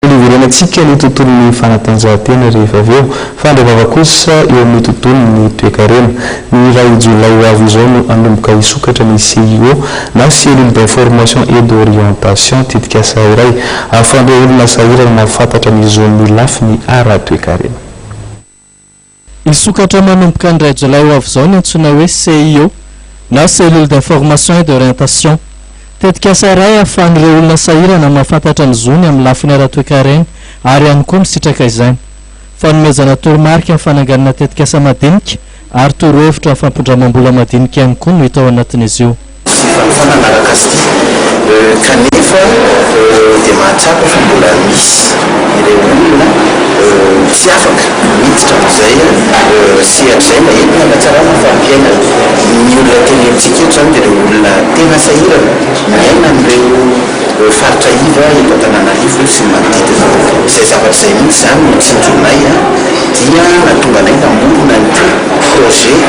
Mbola hiverenantsika ny tontolon'ny fanatanjahantena rehefa avy eo, fa indray vava kosa eo amin'ny tontolon'ny toekarena. Ny iray jolay ho avy izao no hanomboka hisokatra ny CIO na Cellule d'information et d'orientation, tetikasa iray ahafahan'ireo olona sahirana mahafantatra ny zon'ny lafiny ara-toekarena. Hisokatra manomboka ny iray jolay ho avy izao ny antsoina hoe CIO na Cellule d'Information et d'Orientation. Tetikasa iray ahafahan'ireo olona sahirana mahafantatra ny zony amin'ny lafiny ara-toekarena ary ihany koa misitraka izany. Fanomezana toromarika amin'ny fananganana tetikasa madinika ary torohevitra amin'ny fampindramam-bola madinika ihany koa no hita ao anatin'izy io. Fifanofana anaraka sy tia. Kanefa dia mahatsapa fa mbola misy ireo olona tsy afaka miditra amin'izay sehatra izay na entina hanatsarana ny fari-piainany. Ny olona tenenintsika eto izany dia ireo olona tena sahirana miaina amin'ireo faritra iva eto Antananarivo sy ny manodidina. Izay zavatra izay mihitsy izany no nitsinjonay dia nahatonga anay namorona an'ity projet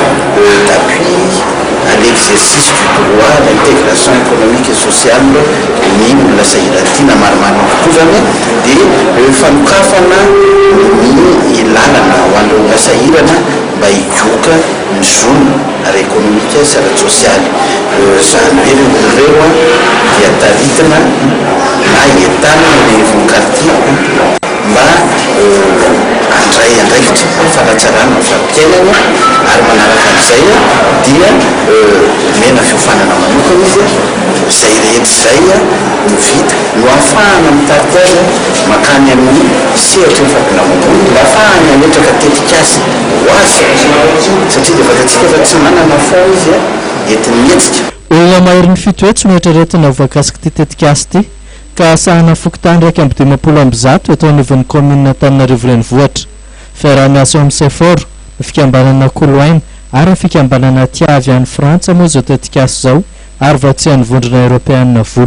d'appui. à l'exercice du droit à l'intégration économique et sociale ny olona sahirana ity na marimarina kokoa izany dia eo fanokafana ny lalana ho an'ireo olona sahirana mba higoka ny zony ara ekonomika sy ara tsosialy izany hoe ireo olona ireo dia taritina na entanina eny anivon'ny quartier mba ho handray andraikitra amin'ny fanatsarana ny farim-piainany ary manaraka an'izay dia omena fiofanana manokana izy, izay rehetra izay no vita no ahafahana mitarika azy mankany amin'ny sehatra efa volamambony mba ahafahany hametraka tetikasa ho azy satria dia fantatsika fa tsy manana fonds izy entin'ny hetsika. Olona maherin'ny fito hetsy no eritreretina ho voakasik'ity tetikasa ity ka sahana fokontany iraika amby dimampolo amby zato eto anivon'ny kaominina Antananarivo Renivohitra. Fiaraha-miasa ao amin'ny Sephora, ny fikambanana Koloaina ary ny fikambanana Tia avy any Frantsa moa izao tetikasa izao ary vatsian'ny Vondrona Eoropeana vola.